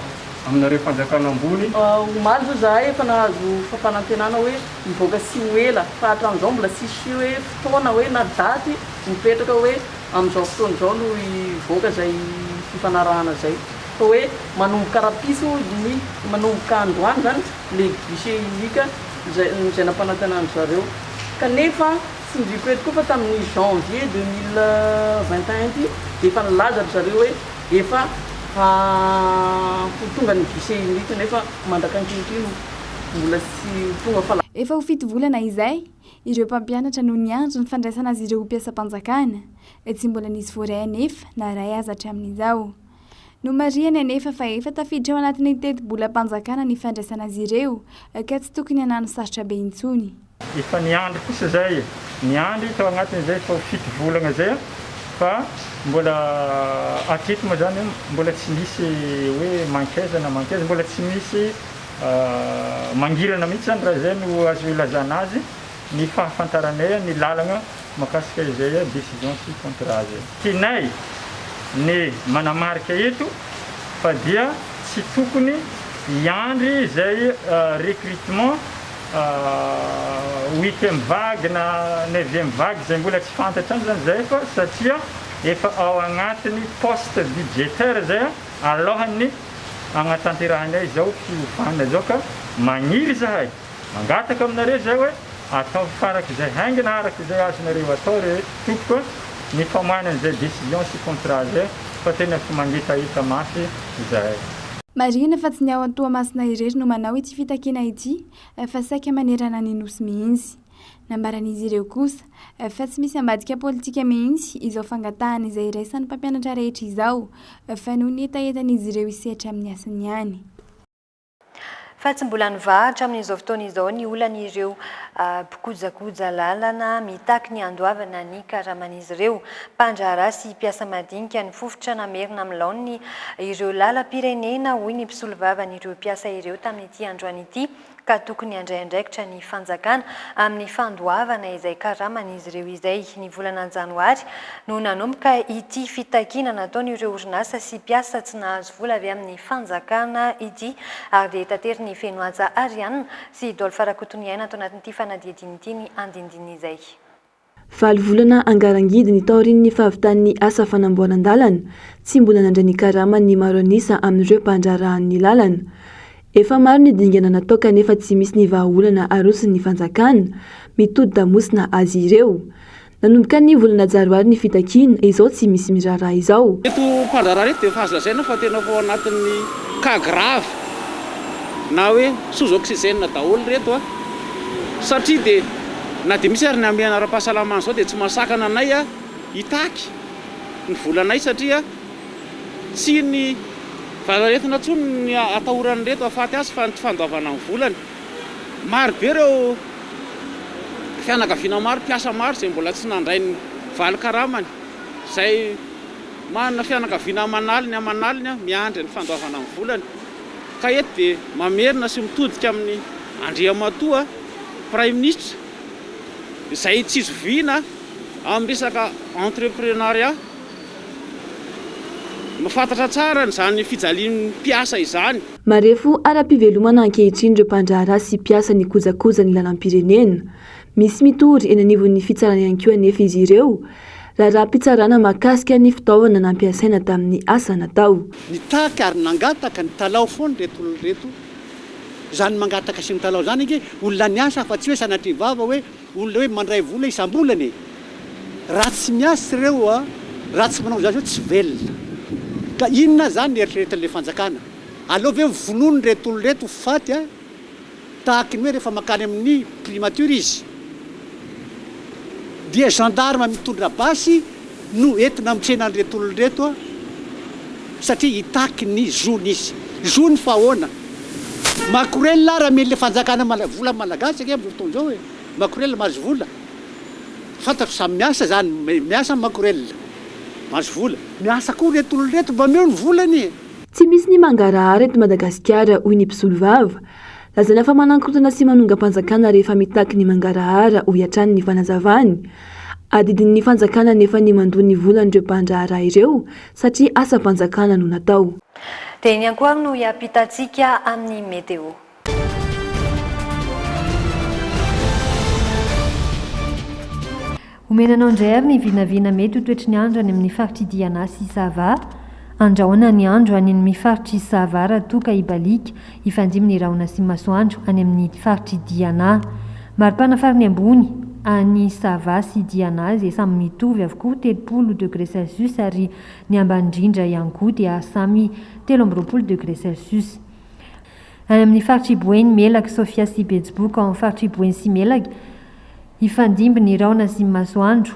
aminareo Fanjakana ambony, Omaly izao izahay efa nahazo fampanantenana hoe. Hivoaka tsy ho ela, fa hatramin'izao mbola tsisy hoe fotoana hoe na daty mipetraka hoe amin'izao fotoana izao no hivoaka izay fifanarahana izay. Fa hoe manomboka rahampitso iny, manomboka androany izany ilay guichet unique izay izay nampanantenan-dry zareo. Kanefa tsindriako eto koa fa tamin'ny janvier deux mille vingt et un ity dia efa nilaza-dry zareo hoe efa ho tonga ny guichet unique nefa mandrak'ankehitriny. mbola tsy ho tonga fa. Efa ho fito volana izay, ireo mpampianatra no niandry ny fandraisana azy ireo ho mpiasam-panjakana. Tsy mbola nisy voaray anefa na iray aza hatramin'izao. Nomarihany anefa fa efa tafiditra ao anatin'ny teti-bolam-panjakana ny fandraisana azy ireo ka tsy tokony hanano sarotra be intsony. Efa niandry kosa izay e! Niandry tao anatin'izay vao fito volana izay aho fa mbola hatreto moa izany mbola tsy misy hoe mankaiza na mankaiza, mbola tsy misy mangirana mihitsy izany raha izay no azo ilazana azy ny fahafantaranay ny lalana Mahakasika izay hoe décision sy contrat zay. Tianay ny manamarika eto fa dia tsy tokony hiandry izay recrutement huitième vague na neuvième vague izay mbola tsy fantatra any zany zay fa satria efa ao agnatiny poste budgétaire zay alohan'ny agnatanterahanay izao fiovana izao ka magniry zahay Mangataka aminareo izay hoe ataovy farak'izay haingana araka izay azonareo atao re tompoko a, ny famainan'izay décision sy contrat zay fa tena tsy mangetaheta mafy izahay. Marihina fa tsy ny ao Toamasina irery no manao ity fitakiana ity fa saika manerana ny Nosy mihitsy. Nambaran'izy ireo kosa fa tsy misy ambadika politika mihitsy izao fangatahana izay iraisan'ny mpampianatra rehetra izao fa noho ny hetahetan'izy ireo hisetra amin'ny asany ihany. Fa tsy mbola nivaha hatramin'izao fotoana izao ny olan'ireo mpikojakoja lalana mitaky ny handoavana ny karaman'izy ireo. Mpandraharaha sy mpiasa madinika ny fofotra namerina amin'ny laoniny ireo lalam-pirenena, hoy ny mpisolovavan'ireo mpiasa ireo tamin'ity androany ity, ka tokony handray andraikitra ny fanjakana amin'ny fandoavana izay karaman'izy ireo izay. Ny volana janoary no nanomboka ity fitakiana nataon'ireo orinasa sy mpiasa tsy nahazo vola avy amin'ny fanjakana ity ary dia tatery ny feno haja Ariana sy Dolph Rakotoniaina ato anatin'ity fanadihadiana ity ny andinindininy izay. Valo volana angarangidiny taorian'ny fahavitan'ny asa fanamboaran-dalana, tsy mbola nandray ny karamany ny maro an'isa amin'ireo mpandraharahan'ny lalana. Efa maro ny dingana natao kanefa tsy misy ny vahaolana aroson'ny fanjakana, mitodi-damosina azy ireo. Nanomboka ny volana jaroary ny fitakiana, izao tsy misy miraharaha izao. Ireto mpandraharaha ireto dia efa azo lazaina fa tena efa ao anatin'ny cas grave na hoe sous oxygène daholo ireto satria dia na dia misy ary ny hamehana ara-pahasalamana izao dia tsy mahasakana anay hitaky ny volanay satria tsy ny valanaretina intsony no atahoran'ireto hahafaty azy fa ny tsy fandoavana ny volany. Maro be ireo fianakaviana maro, mpiasa maro izay mbola tsy nandray ny valy karamany. Izay manana fianakaviana aman'aliny aman'aliny miandry ny fandoavana ny volany. Ka eto dia mamerina sy mitodika amin'i Andriamatoa Praiminisitra izay tsy zoviana amin'ny resaka entreprenariat. Mahafantatra tsara an'izany fijalian'ny mpiasa izany. Marefo ara-pivelomana ankehitriny ireo mpandraharaha sy mpiasa ny kojakoja ny lalam-pirenena. Misy mitory eny anivon'ny fitsarana ihany koa anefa izy ireo, raharaham-pitsarana mahakasika ny fitaovana nampiasaina tamin'ny asa natao. Nitaky ary nangataka nitalaho foana ireto olona ireto. Izany mangataka sy mitalaho izany ange olona niasa fa tsy hoe sanatria vava hoe. Olona hoe mandray vola isambolana e! Raha tsy miasa ireo, raha tsy manao izany ireo tsy velona. Ka inona izany ny eritreretin'ilay fanjakana? Aleo ve ho vonoina ireto olona ireto ho faty tahaka ny hoe rehefa mankany amin'ny primature izy dia gendarme mitondra basy no entina amin'ny tsenan'ireto olona ireto satria hitaky ny zony izy. Zony fa ahoana? Makorelina ary amen'ilay fanjakana mala, volan'ny malagasy ange amin'izao fotoana izao e! Makorelina mahazo vola. Fantatro samy miasa izany, miasa ny makorelina, mahazo vola. Miasa koa ireto olona ireto mba omeo ny volany e! Tsy misy ny mangarahara eto Madagasikara hoy ny mpisolovava. Lazaina fa manakorontana sy manongam-panjakana rehefa mitaky ny mangarahara, hoy hatrany ny fanazavany. Adidin'ny fanjakana anefa ny mandoa ny volan'ireo mpandraharaha ireo satria asam-panjakana no natao. Dia iny ihany koa ary no hiampitantsika amin'ny Météo. Omena anao indray ary ny vinavina mety ho toetry ny andro any amin'ny faritr'i Diana sy Sava. Andrahoana ny andro any amin' ny faritr'i Sava raha toa ka hibaliaka hifandimby ny rahona sy masoandro any amin'ny faritr'i Diana. Maripana farany ambony any Sava sy Diana izay samy mitovy avokoa telopolo degré celsius ary ny ambany indrindra ihany koa dia samy telo amby roapolo degré celsius. Any amin'ny faritr'i Boeny, Melaky, Sofia sy Betsiboka ao amin'ny faritr'i Boeny sy Melaky, Hifandimby ny rahona sy ny masoandro.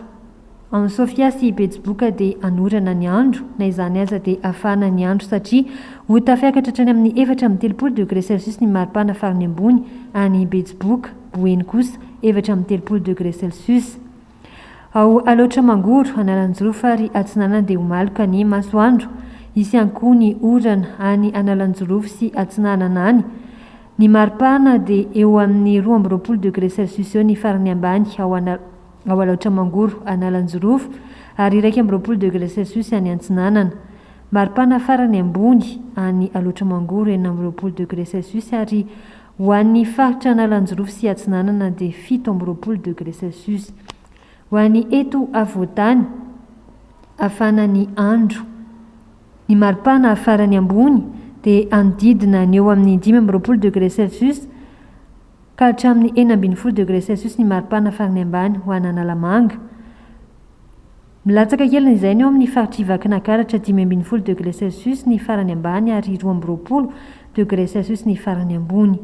Ao amin'i Sofia sy i Betsiboka dia hanorana ny andro, na izany aza dia hafahana ny andro satria ho tafiakatra hatrany amin'ny efatra amby telopolo degré celsius ny maripana farany ambony any Betsiboka, Boeny kosa efatra amby telopolo degré celsius. Ao Alaotra-Mangoro, Analanjirofo ary Atsinanana dia ho maloka ny masoandro. Hisy ihany koa ny orana any Analanjirofo sy Atsinanana any. Ny maripana dia eo amin'ny roa amby roapolo degré celsius eo ny farany ambany ao Ana ao Alaotra Mangoro Analanjirofo ary iraika amby roapolo degré celsius any Antsinanana. Maripana farany ambony any Alaotra Mangoro enina amby roapolo degré celsius ary ho an'ny faritra Analanjirofo sy Atsinanana dia fito amby roapolo degré celsius. Ho an'ny eto Afovoantany hafana ny andro. Ny maripana farany ambony dia hanodidina ny eo amin'ny dimy amby roapolo degré celsius ka hatramin'ny enina ambin'ny folo degré celsius ny maripana farany ambany ho an'Analamanga. Milatsaka kely izay ny eo amin'ny faritr'i Vakinankaratra, dimy ambin'ny folo degré celsius ny farany ambany ary roa amby roapolo degré celsius ny farany ambony.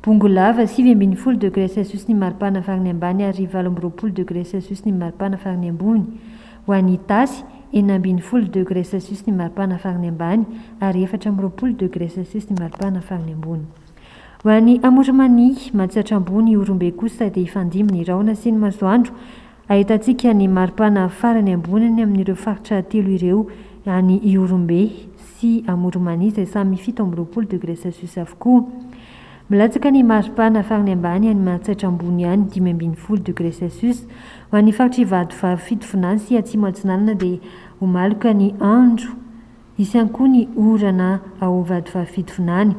Bongo lava, sivy ambin'ny folo degre celsius ny maripana farany ambany ary valo amby roapolo degre celsius ny maripana farany ambony. Ho an'i Itasy, enina ambin'ny folo degre celsius ny maripana farany ambany ary efatra amby roapolo degre celsius ny maripana farany ambony. Ho an'i Amorimania, Matsiatra Ambony, Ihorombe kosa dia hifandimby ny rahona sy ny masoandro, Ahitantsika ny maripana farany amboniny amin'ireo faritra telo ireo, any Ihorombe sy Amorom-Mania izay samy fito amby roapolo degré Celsius avokoa. Milatsaka ny maripana farany ambany any Mahatsaitra Ambony any, dimy ambin'ny folo degré Celsius. Ho an'ny faritr'Ivato, Varo, Fitovinany sy Atsimo Atsinanana dia ho maloka ny andro. Hisy ihany koa ny orana ao Vatovavy-Fito Vinany.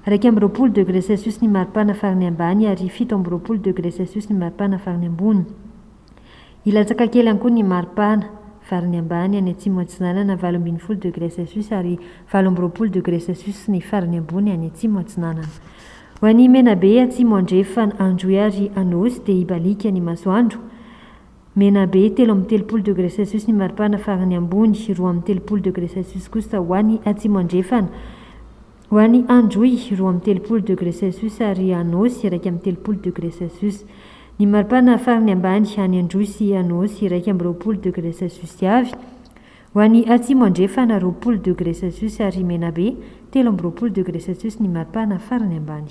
Iraika amby roapolo degre celsius ny maripana farany ambany ary fito amby roapolo degre celsius ny maripana farany ambony. Hilatsaka kely ihany koa ny maripana farany ambany any Atsimo Atsinanana, valo ambin'ny folo degre celsius ary valo amby roapolo degre celsius ny farany ambony any Atsimo Atsinanana. Ho an'i Menabe, Atsimo Andrefana, Androy ary Anôsy dia hibaliaka ny masoandro. Menabe, telo amby telopolo degre celsius ny maripana farany ambony, roa amby telopolo degre celsius kosa ho any Atsimo Andrefana. Ho any Androy, roa amby telopolo degre celsius ary Anôsy, iraika amby telopolo degre celsius. Ny maripana farany ambany, any Androy sy Anôsy, iraika amby roapolo degre celsius avy. Ho any Atsimo Andrefana, roapolo degre celsius ary Menabe, telo amby roapolo degre celsius ny maripana farany ambany.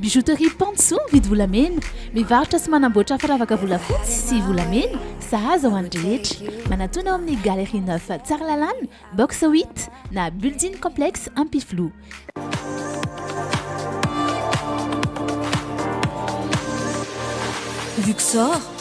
Bijouterie Pantso mividy volamena, mivarotra sy manamboatra firavaka volafotsy sy volamena, sahaza ho an'ny rehetra. Manatona ao amin'ny Galerie Neuf Tsaralalana, box huit, na Building Complex Ampifiloha. Luxor,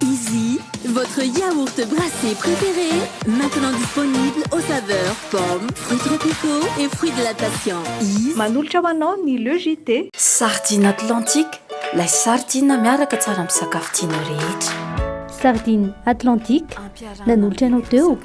Izy, votre yaourt brassé préféré, maintenant disponible aux saveurs pomme, fruits tropicaux et fruits de la passion. Izy. Manolotra ho anao ny Le JT. Sardine Atlantique, lay sardine miaraka tsara amin'ny sakafo tianao rehetra. Sardine Atlantique, nanolotra anao teo.